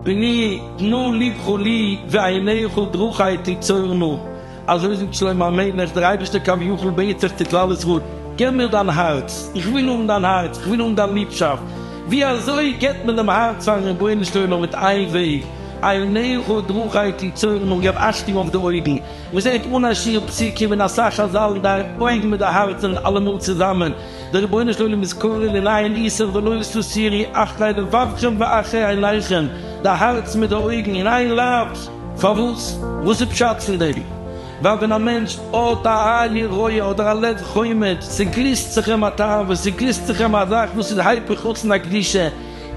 בני תנו לבך לי ועיניך דרכי תצורנה, אזוי זאגט שלמה המלך, דער אייבערשטער כביכול בעט זיך צו כלל ישראל, געב מיר דיין הארץ, איך וויל האבן דיין הארץ, איך וויל האבן דיין ליבשאפט, ווי אזוי געבט מען דעם הארץ פארן רבונו של עולם, מיט איין וועג, עיניך דרכי תצורנה, געב אכטונג אויף די אויגן. מען זעט אן א שיעור פסוק און ווען אסאך חזל'ן די אויגן מיט די הארץ זענען אלעמאל צוזאמען, דער רבונו של עולם איז קורא לנעיין איסר ולא תסירי אחרי לבבכם ואחרי עיניכם, די הארץ מיט די אויגן אין איין לייב, פארוואס? וואס איז פשט פון דעם? ווייל ווען א מענטש האט א עין יראה אדער א לב חומד, צעגליסט זיך אים א תאווה, צעגליסט זיך אים א זאך וואס איז היפך רצון הקדושה,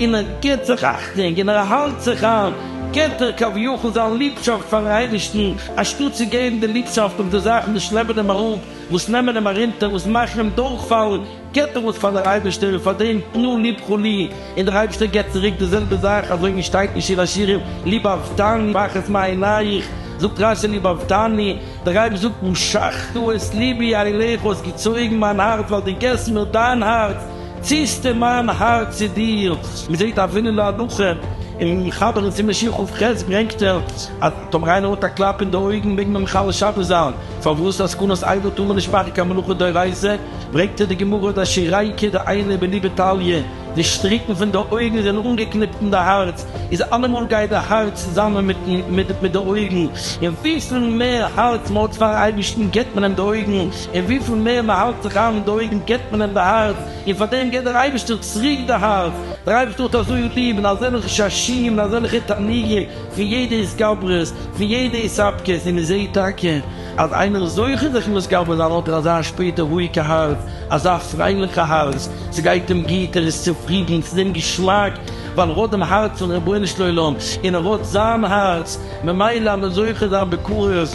און ער גיט זיך אכטונג און ער האלט זיך איין, גיט ער כביכול זיין ליבשאפט פארן אייבערשטן, אנשטאט צו געבן די ליבשאפט אויף די זאכן וואס שלעפן אים אראפ, וואס נעמען אים ארונטער, וואס מאכן אים דורכפאלן, גיט ער עס פאר דער אייבערשטער, און פאר דעם תנו לבכו לי, און דער אייבערשטער גיט צוריק די זעלבע זאך, אזוי ווי שטייט אין שיר השירים, לבבתני ואחת מעיניך, זאגט רש י לבבתני, דער רבי זאגט, משכת את לבי אליך, האסט געצויגן מיין הארץ, ווייל דו גיבסט מיר דיין הארץ, ציסטע מיין הארץ צו דיר. מען זעט אבינו להנחה אין מחבר און סימן שכב ח' ברענגט ער אז טאמער איינער האט א קלאפ אין די אויגן מעג מען מחלל שבת זיין, פארוואס עסקנות עבר טאר מען נישט מאכן קיין מלאכה דאורייתא, ברענגט ער די גמרא דע שירייקע דע איינע בליבא תליא, די שטריקן פון די אויגן זענען אנגעקניפט אין די הארץ, איז אלעמאל גייט די הארץ צוזאמען מיט די אויגן, און וויפיל מער הארץ מען האט פארן אייבערשטן גיבט מען אים די אויגן, און וויפיל מער מען האלט זיך איין אין די אויגן געבט מען אים די הארץ, און פאר דעם געבט דער אייבערשטער צוריק די הארץ, דער אייבערשטער האט אזוי ליב אין אזעלכע ששים און אזעלכע תענוגים פון יעדע התגברות פון יעדע התאפקות, און מען זעט טאקע אז איינער איז זוכה זיך מתגבר זיין האט ער אזא שפעטער רואיגע הארץ, אזא פרייליכע הארץ, ס'גייט אים גוט, ער איז צופרידן, ס'איז אים געשמאק, ווייל ער האט דעם הארץ פון רבונו של עולם, און ער האט זיין הארץ, ממילא אז מען זוכה זיין בקרוב.